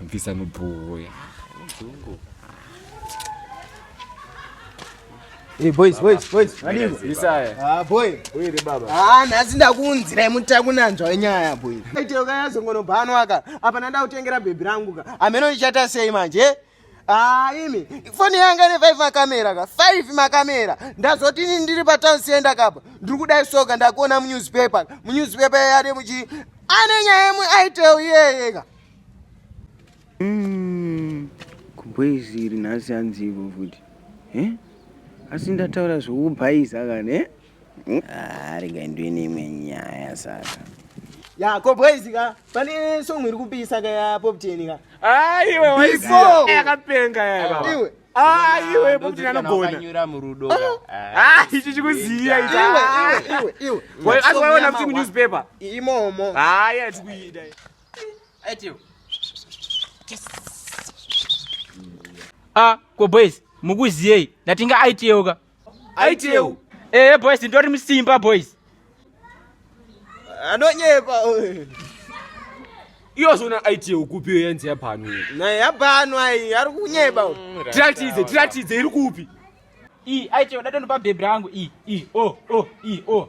mvisa nobhoya Hey boys, boys, boys. Madingo. Isaya. Ah boy. Uye ni baba. Ah nasi ndakunzira imuta kunanzwa wenyaya boy. Aite ukayazongono bhanwa ka. Apa nanda utengera baby rangu ka. Ameno ichata sei manje? Ah, imi foni yanga ine five makamera ka five makamera ndazoti ini ndiri patown center kapa ndiri kudai soka ndakuona munewspaper munewspaper yari muchi ane nyaya yemwe aitel iyeyeka mm, kumboiziri nhasi anzivo futi eh? asi ndataura zvokubhaiza kana eh? Ah, rega ndiwe neimwe nyaya saka ya ko boys ka pane song iri kupisa ka ya pop ten ka aiwe ah, waiso yakapenga ya baba ah, iwe aiwe ah, popten anogona nyura murudo ah ichi chikuziya ichi iwe iwe iwe iwe asiwaona kuti mu newspaper imomo haya tikuida atiyo ah ko boys mukuziyei ndatinga aitiyeuka aiteu ee eh, boys ndori musimba boys anonyepa iyo zvona aiti yekupi iyo yanzi yabhanu naye yabhanu ayi ari kunyeba mm, tiratidze tiratidze iri kupi i aiti yoda tondopa bhebhi rangu i i o o i o